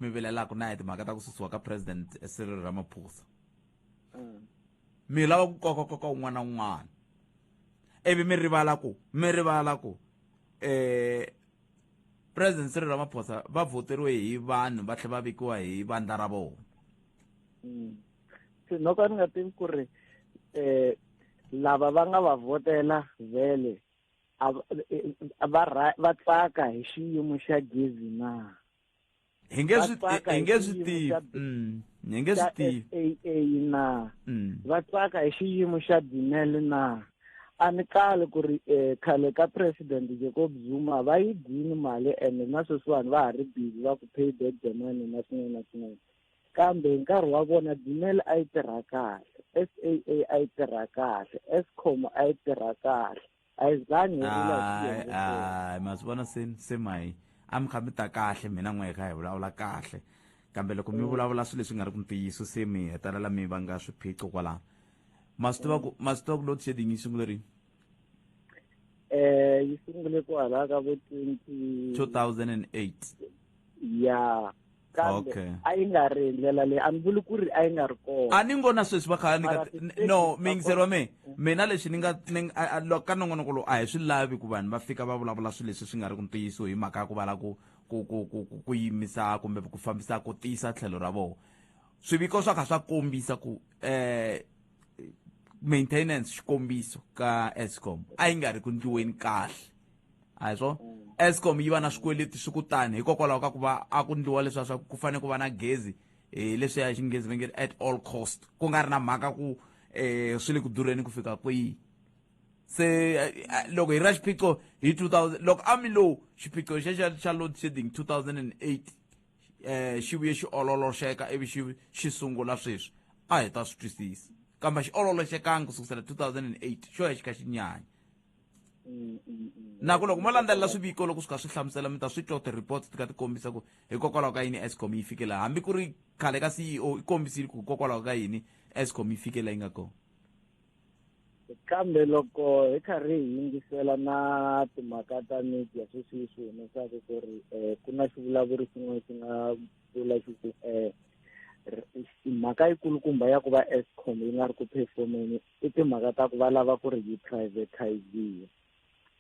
mi vilelaka na hi timhaka ta ku susiwa ka president Cyril Ramaphosa mm. mi lava ku koka koka un'wana na un'wana ivi mi rivala ku mi rivala ku eh president Cyril Ramaphosa va voteriwe hi vanhu va tlhe va vikiwa hi vandla ra vona mm. se no ka ni nga tivi ku ri eh lava va nga va votela vele va va tsaka hi xiyimo xa gezi na hi nge swi Vatsaka hi hi nge swi xiyimo tivi xa- Mm, hi nge swi xa tivi SAA na Mm. va tsaka hi xiyimo xa Dinel na a ni kali ku ri eh, khale ka president Jacob Zuma va yi dini mali ende na sweswiwani va ha ri busy va ku pay back the money na swin'wana na swin'wana kambe hi nkarhi wa vona Dinel a yi tirha kahle SAA a yi tirha kahle Eskom a yi tirha kahle ayizange hayi hayi ma swi vona se se mayi a mi kha mi ta kahle mina n'we hi kha hi vulavula kahle kambe loko mi mm. vulavula swilo leswi nga ri ku ntiyiso se mi hetelela mi va nga swiphiqo kwalaho ma swi tiva ku mm. ma swi tiva ku load shedding yi sungule rini eh yi sungule kwalaho ka vo twenty two thousand and eight ya yeah. kambe Okay. a yi nga ri hi ndlela leyi a ni vuli ku ri a yi nga ri kona a ni ngo na sweswi va kha ni Mara ka ti- no ti- miyingiseri wa me mina lexi ni nga ni nga- a- a- loko ka nongonoko lowu a hi swi lavi ku vanhu va fika va vulavula swilo leswi swi nga ri ku ntiyiso hi mhaka ya ku va la ku ku ku ku ku- ku yimisa kumbe ku fambisa ku tiyisa tlhelo ra vona swiviko swa kha swa kombisa ku eh maintenance xikombiso ka escom a yi nga ri ku ndliweni kahle a hi swona mm. escom yi va na swikweleti swi ku tani hikokwalaho ka ku va a ku ndliwa leswiya swa ku fanele ku va na gezi um leswiya hi xinghezi va nge at all cost ku nga ri na mhaka ku um swi le ku durheni ku fika kwihi se eh, eh, loko hi ra xiphiqo hi 2000 loko a mi lowu xiphiqo xexa xa load shedding 2008 um eh, xi vuye xi ololoxeka ivi xi xi sungula sweswi a hi ta swi twisisa kambe xi ololoxekangi ku sukusela 2008 xo ya xi kha xi nyanya na ku loko mo landzelela swiviko loko swi kha swi hlamusela mi ta swi twa ti-reports ti kha ti kombisa ku hikokwalaho ka yini escom yi fike laha hambi ku ri khale ka ceo i kombisile ku hikokwalaho ka yini escom yi fike laha yi nga kona kambe loko hi karhi hi yingisela na timhaka ta media sweswi yi swi humesaka ku ri um ku na xivulavuri xin'wana xi nga vula xi ku um mhaka yi kulukumba ya ku va escom yi nga ri ku performeni i timhaka ta ku va lava ku ri yi privatiziwa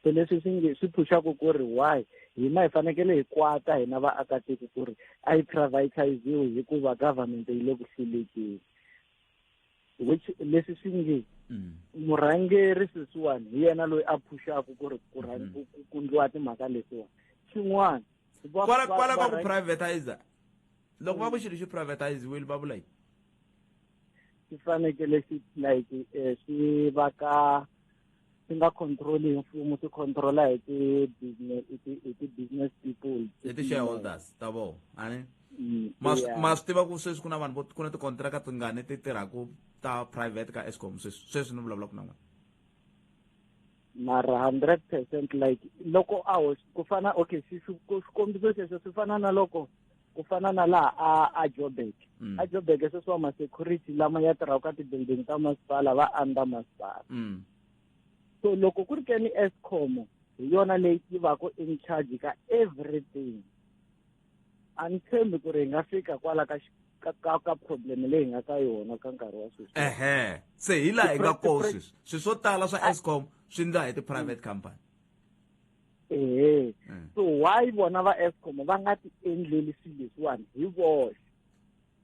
so leswi swi nge swi phuxaka ku ri why hina hi fanekele hi kwata hina vaakatiko ku ri a yi privatiziwe hikuva government yi le ku hlulekeni which leswi swi nge mm. murhangeri sweswiwani hi yena loyi a phuxaka ku ri ku mm-hmm. kundliwa timhaka letiwani xin'wana kwala kwala ka ku privatizer loko va ku xilo xi privatiziwile va vula yini swi fanekele swi like eh, swi va ka swi nga control hi mfumo swi controla hi ti-business hi ti-business people hi ti-shareholders ta vona ani mm, ma swi tiva ku sweswi ku na vanhu ku na tikontraka tingani ti tirhaka ta private ka escom sweswi sweswi ni vulavulaka na n'wina mara hundred percent like loko a ku fana okay xikombiso xexo swi fana na loko ku fana na laha a a jobek mm. a jobek sweswiwa ma-security lama ya tirhaka ka ti-building ta masipala va under masipala mm. so loko ku ri ke ni escom hi yona leyi yi vaka in charge ka everything a ni tshembi ku ri hi nga fika kwala ka ka ka ka problem leyi nga ka yona ka nkarhi wa sweswi ehe se hi laha hi nga koho sweswi swilo swo tala swa escom swi ndla hi ti-private company ehe mm. so why vona va escom va nga ti endleli swilo leswiwani hi voxe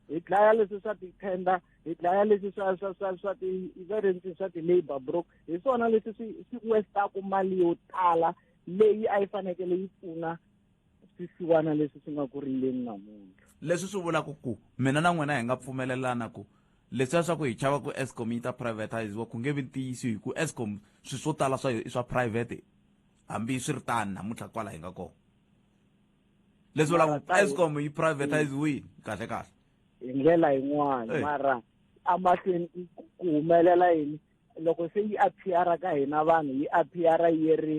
hi dlaya leswi swa ti-tender hi dlaya leswi swa swa swa swa ti va ri ndzi swa ti-labour brook hi swona leswi swi swi westaku mali yo tala leyi a yi fanekele yi pfuna swisiwana leswi swi nga ku rileni namuntlha leswi swi vulaka ku mina na n'wina hi nga pfumelelana ku leswiya swa ku hi chava ku escom yi ta privatiziwa ku nge vi ntiyiso hi ku escom swilo swo tala swa yo i swa private hambi swi ri tani namuntlha kwala hi nga kona leswi vulaka escom yi privatize wini kahle kahle hi ndlela yin'wana mara amahlweni ku humelela yini loko se yi appeara ka hina vanhu yi appeara yi ri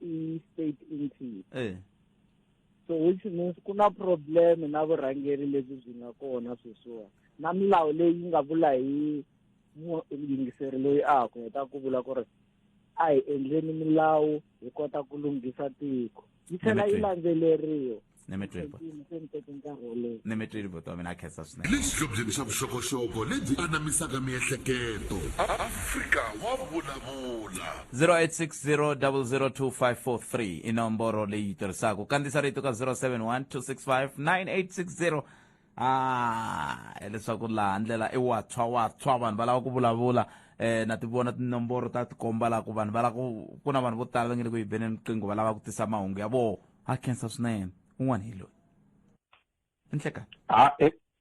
i-state entity so which means ku na problem na vurhangeri lebyi byi nga kona sweswiwa na milawu leyi nga vula hi yingiseri loyi a ha ku heta ku vula ku ri a hi endleni milawu hi kota ku lunghisa tiko yi tlhela yi landzeleriwa lexihlobyeni xa vuxokoxoko lebyi anamisaka miehleketo afrika wa vulavula 0860002543 i nomboro leyi tirhisaka kandzisa rito ka 071 265 9860 a hileswaku laha ndlela i watshwa watshwa vanhu va lava ku vulavula um na ti vona tinomboro ta tikomba laha ku vanhu va lava ku ku na vanhu vo tala va nge le ku yi beneni riqingho va lava ku tisa mahungu ya vona ha khensa swinene un'wana hi loyi i nhlekani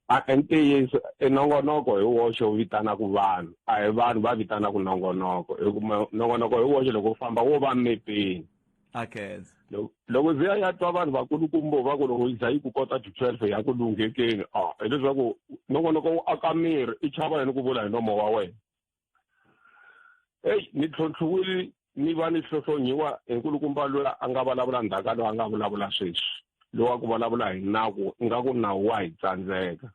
a i ntiyiso i nongonoko hi woxe wu vitanaka vanhu a hi vanhu va vitanaka nongonoko hikuva nongonoko hi woxe loko wu famba wo va mepeni akenza Lo- loko ndzi ya ya twa vanhu vakulukumbo va ku loko yi za yi ku kota ti-twelve ya ku lunghekeni a hileswaku nongonoko wu aka miri i chava yini ku vula hi nomo wa wena eyi ni tlhontlhiwile ni va ni hlohlonyiwa hi nkulukumba loyi a nga vulavula ndzhaka loyi a nga vulavula sweswi loyi wa ku vulavula hi naku ingaku nawu wa hi tsandzeka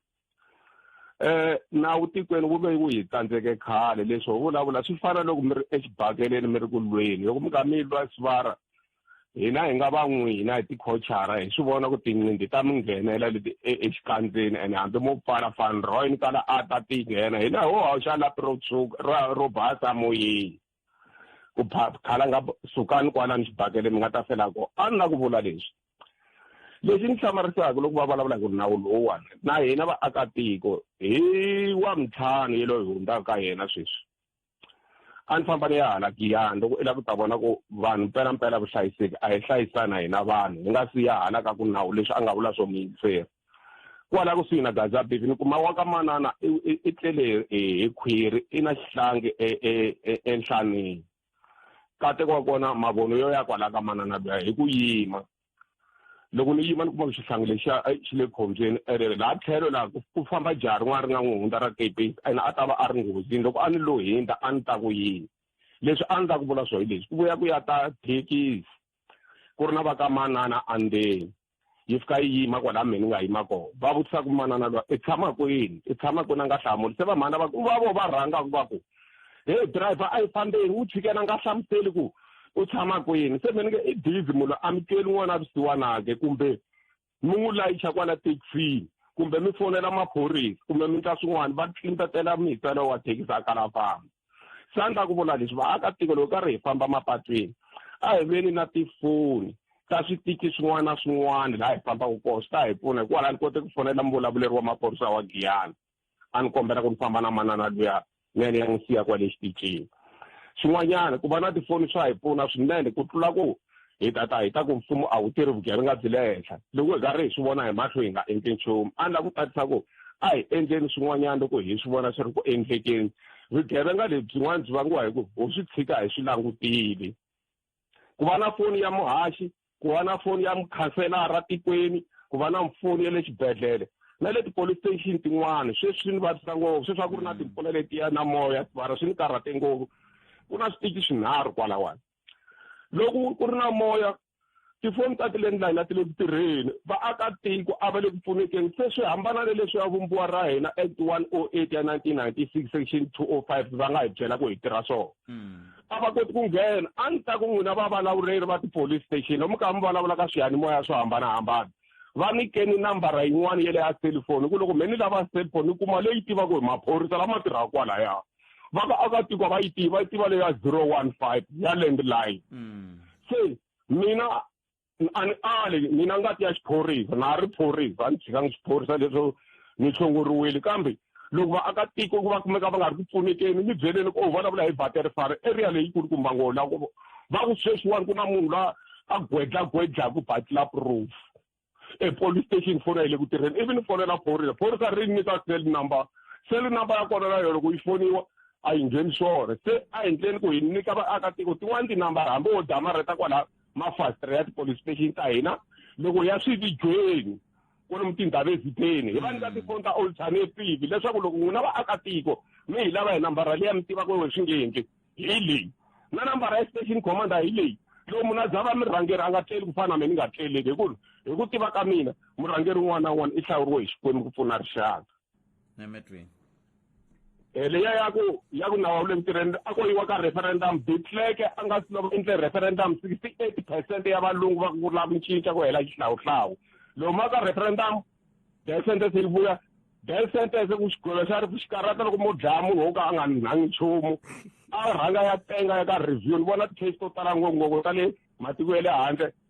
eh nawu tikweni wu ve wu hi tsandzeke khale leswi ho vulavula swi fana loko mi ri exibakeleni mi ri ku lweni loko mi nga mi lwa sivara hina hi nga va n'wina hi tikhochara hi swi vona ku tinqindi ta mi nghenela leti e, exikandzeni ene hambi mo pfala fan roy ni kala a ta ti nghena hina ho hawuxa lapi ro tshuka ro basa moyeni ku khala nga sukani kwalani xibakele mi nga ta fela ko a ni la ku vula leswi lexi ni hlamarisaka loko va vulavula ku nawu lowuwani na hina vaakatiko hi wa mintlhanu ye loyi hi hundzaka ka yena sweswi a ni famba ni ya hala giyani loko i lava ku ta vona ku vanhu mpelampela vuhlayiseki a hi hlayisana hina vanhu hi nga si ya hala ka ku nawu leswi a nga vula swo miyingiseri kwala kusuhi na gaza bivi ni kuma wa ka manana i tlele hi khwiri i na xihlangi enhlanini e, e, e, kateko wa kona mavono yo ya kwalaya ka manana luya hi ku yima loko ni yima ni kuma ku xihlangi lexiya eh, xi le khombyeni ene eh, laha tlhelo laha ku famba jaha rin'wana ri nga n'wi hundza ra kepesi ene a ta va a ri nghozini loko a ni lo hindza a ni ta ku yini leswi a ni ta ku vula swo hi leswi ku vuya ku ya ta thekisi ku ri na va ka manana andeni yi fika yi yima kwala mhe ni nga yima kona va vutisa ku manana lwa i tshama kwini i tshama kwini a nga hlamuli se va mhana va ku va vo va rhanga ku va ku heyi driver a yi fambeni wu chikena a nga hlamuseli ku u tshama kwini se mhe ni nge i busy munhu amukeli n'wana a visiwanake kumbe mi n'wi layicha kwala thekisini kumbe mi fonela maphorisa kumbe mi ndla swin'wana va tlintatela mitswelo wa thekisi a kala famba sa ndla ku vula leswi vaakatiko loko karhi hi famba mapatwini a hi veni na tifoni ta switiki swin'wana na swin'wana laha hi fambaka kona swi ta hi pfuna hikwalaho ni kote ku fonela muvulavuleri wa maphorisa wa giyana a ni kombela ku ni famba na manana luya ni ya ni ya n'wi siya kwale xitichini swin'wanyana ku va na tifoni swa hi pfuna swinene ku tlula ku hi tata hi ta ku mfumo a wu tirhi vugevenga byi le henhla loko hi karhi hi swi vona hi mahlo hi nga endli nchumu a ni la ku tatisa ku a hi endleni swin'wanyana loko hi swi vona swi ri ku endlekeni vugevenga lebyi byin'wana byi vangiwa hi ku ho swi tshika hi swi langutile ku va na foni ya muhaxi ku va na foni ya mukhanselara tikweni ku va na foni ya le xibedhlele na le ti-police station tin'wana sweswi swi ni vavisa ngopfu sweswi a ku ri na timpfula letiya na moya mara swi ni karhate ngopfu ku na switichi swinharhu kwalawani loko ku ri na moya tifoni ta ti-landline a ti le ku tirheni vaakatiko a va le ku pfunekeni se swi hambana na leswi ya vumbiwa ra hina act one o oh eight ya nineteen ninety six section two o oh five va nga hi byela ku hi tirha swona hmm. a va koti ku nghena a ni ta ku n'wina vavulavureri va ti-police station lomu ka mi vulavula ka swiyanimoya swo hambanahambana va nyikeni nambara yin'wana ya le ya selifoni ku loko me ni lava selifoni ni kuma leyi tivaka hi maphorisa lama tirhaka kwalaya va ka akatiko va yi tiva yi tiva leyi ya zero one five ya landline mm. se mina a ni ali mina ngati ya xiphorisa na ha ri phorisa a ni tshikanga xiphorisa leswo ni tshunguriwile kambe loko vaakatiko ku va kumeka va nga ri ku pfunekeni ni byeleni ku u vulavula hi battery fare area leyi kulukumba ngo la va ku sweswiwani ku na munhu la a gwedlagwedlaku batla proof epolice station fona yi le ku tirheni ivi ni fonela phorisa phorisa ri nyika cell number cell number ya kona na yona ku yi foniwa a yi ngheni swona se a endleni ku hi nyika vaakatiko tin'wani tinambara hambi wo damareta kwala mafasitara ya tipolice station ta hina loko ya swividyweni kwalomu tindhawu ezitheni hi va nyika tifoni ta alternative leswaku loko n'wina vaakatiko mi hi lava hi nambara leyi ya mi tivaka we swi nge endli hi leyi na nambara ya station commander hi leyi loko munhu a zava murhangeri a nga tleli ku fana na mina ni nga tleleki hi ku hi ku tiva ka mina murhangeri un'wana na un'wana i hlawuriwe hi xikwembu ku pfuna rixaka nemetweni eh, leya ya ku ya ku nawu le ntirhweni a ko yiwa ka referendum bitleke a nga si loko endle referendum sixty eight percent ya valungu va ku lava ku cinca ku hela xihlawuhlawu loko ma ka referendum death sentence yi vuya death sentence ku xigwilo xa ri xi karata loko mo dlaya munhu wo ka a nga nhangi nchumu a rhanga ya tenga ya ka review ni vona ti-case to tala ngopfu ngopfu ta le matiko ya le handle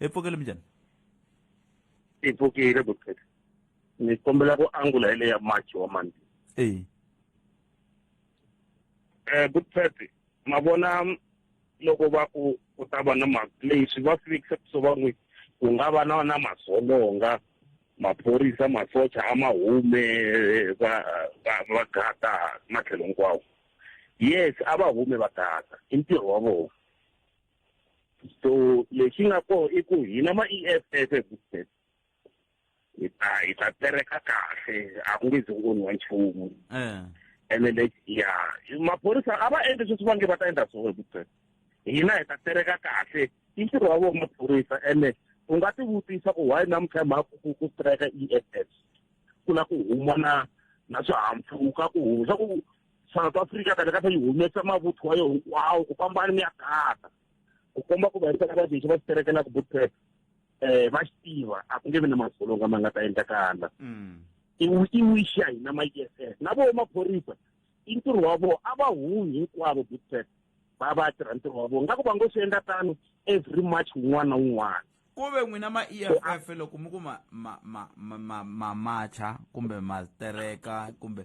epfokele minjhani yi pfukile bukheta ni kombela ku angula hi leya march wa mandi e eh bukheta ma vona loko va ku ku ta va na ma leswi va fikisa so va n'wi ku nga va na na masolonga maphorisa masocha a ma hume va va va gata matlhelo hinkwawo yes a va hume va gata i ntirho wa vona so lexi nga koho i ku hina ma-EFF ebuset hi ta hi ta tereka kahle a ku nge zi ku onhiwa nchumu eh. ene lexi ya maphorisa a va endli sweswi va nge va ta endla swona ebuset hina hi ta tereka kahle i ntirho wa vona maphorisa ene u nga ti vutisa ku why namuntlha mhaka ku ku strike EFF ku na ku huma na na swihahampfhuka ku huma swa ku south africa kana kata yi humesa mavuthu wa yo hinkwawo ku fambani mi ya kata ku komba ku vayisa ka vadixi va xiterekela ku butep um eh, va xi tiva a ku nge vi na madzolonga ma nga ta endlakala mm. i wish ya hina ma ess na vo maphorisa i ntirho wa vona a va humi hinkwavo butep va va tirha ntirho wa vona nga ku va ngo swi endla tano every march wun'wana na wun'wana ku ve n'wina ma e f f loko mi ku ma ma ma ma ma macha kumbe ma tereka kumbe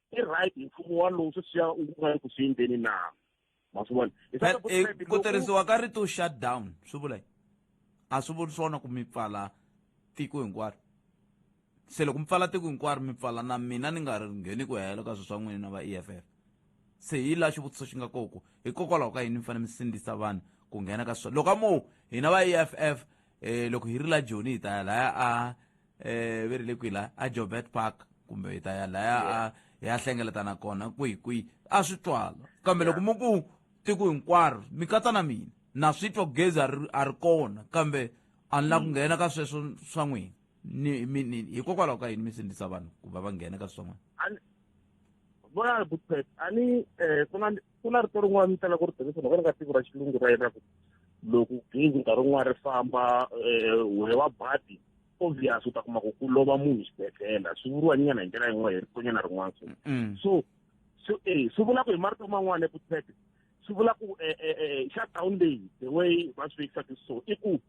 i right hi mfumo walowu sweswiya u nga le ku swi endleni na ma swi vona eh, ku tirhisiwa ka rito shut down swi vula yini a swi vuli swona ku mi pfala tiko hinkwaro se loko mi pfala tiko hinkwaro mi pfala na mina ni nga ri ngheni ku hela ka swilo swa n'wina va e f f se hi laha xivutiso xi nga koko hikokwalaho ka yini mi fanele mi sindzisa vanhu ku nghena ka swilo loko a mo hina va e f f eh loko hi ri la joni hi ta ya laya a eh ve ri le kwila a jobert park kumbe hi ta ya laya a hi ya hlengeletana kona kwihi kwihi a swi twala kambe loko mi ku tiko hinkwaro mi katsa na mina na swi twa gezi a ri a ri kona kambe a ni la ku nghena ka sweswo swa n'wina ni mi- ni- hikokwalaho ka yini mi sindzisa vanhu ku va va nghena ka swin'wana Ani- bona butet ani eh kuna ku na rito rin'wana ni talaka ku ri tirhisa loko ri nga tiko ra xilungu ra yena ku loko gezi nkarhi wun'wana ri famba um wehe wa badi obvious u ta kuma ku ku lova munhu xibedhlele swi vuriwa nyana hi ndlela yin'wana hi rikonyana rin'wana so mm. so so e swi vula ku hi marito man'wana eku tete swi vula ku e, e, e, shutdown leyi the way va swi vekisaka so i ku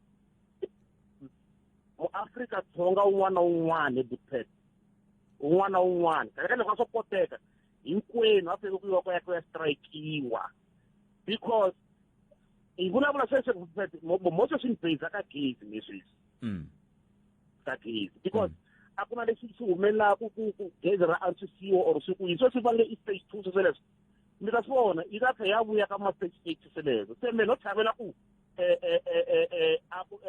muafrika dzonga un'wana na un'wana ebutete un'wana na un'wana kahlekahle va swo koteka hinkwenu a fanele ku yiwa ku ya ku ya strikekiwa because hi vulavula sweswi mo sweswi ni base ka gezi ni sweswi mm. ka gezi because mm. a ku na lexi xi humelelaka ku ku gezi ra antswisiwa or swi ku yi sweswi va nge i stage two swi sweleswo mi ta swi vona yi ta tlhe ya vuya ka ma stage eight sweleswo se me no tlhavela ku eh, eh, eh,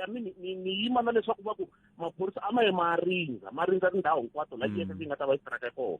i mean ni yima na leswaku va ku maphorisa a ma ye ma rindza ma rindza tindhawu hinkwato la mm. yi nga ta va yi strike kona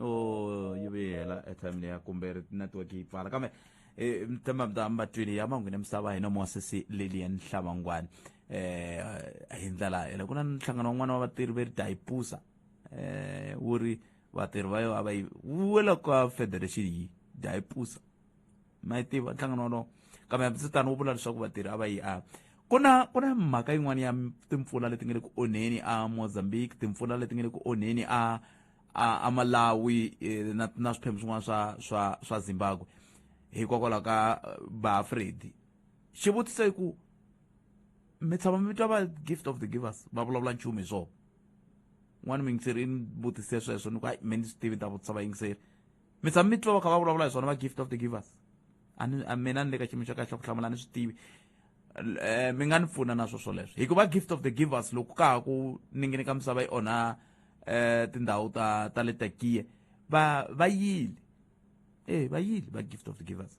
o oh, yi vuye hela airtime leya kumbe ri network yi pfala kambe eh, um tema mda mbatwini ya manghwini misava hina muwasesi lilian hlavangwani um hi ndlela yele ku na nhlangano wan'wana wa vatirhi ve ri dayipusa um eh, wu ri vatirhi va yo a va yi wela ka federation yi dayipusa ma yi tiva nhlangano wolowo kambe hambisitano wu vula leswaku vatirhi a va yi a ku na ku na mhaka yin'wana ya timpfula leti nga le ku onheni a mozambique timpfula leti nga le ku onheni a a a malawi eh, na na swiphemu swin'wana swa swa swa zimbabwe hikokwalaho ka eh, baafredi xivutiso i ku mi tshama mi twa va gift of the givers va vulavula nchumu hi swona n'wana miyingiseri i ni vutise sweswo ni ku hayi me ni swi tivi ni ta vutisa vayingiseri mi tshama mi twa va kha va vulavula hi swona va gift of the givers a ni a mina ni le ka xiyimo xa kahle xa ku hlamula ni swi tivi um mi nga ni pfuna na swo swoleswo hikuva gift of the givers loko ka ha ku ningini ka misava yi onha um tindhawu ta ta le takiye va va yile e va yile va gift of the givers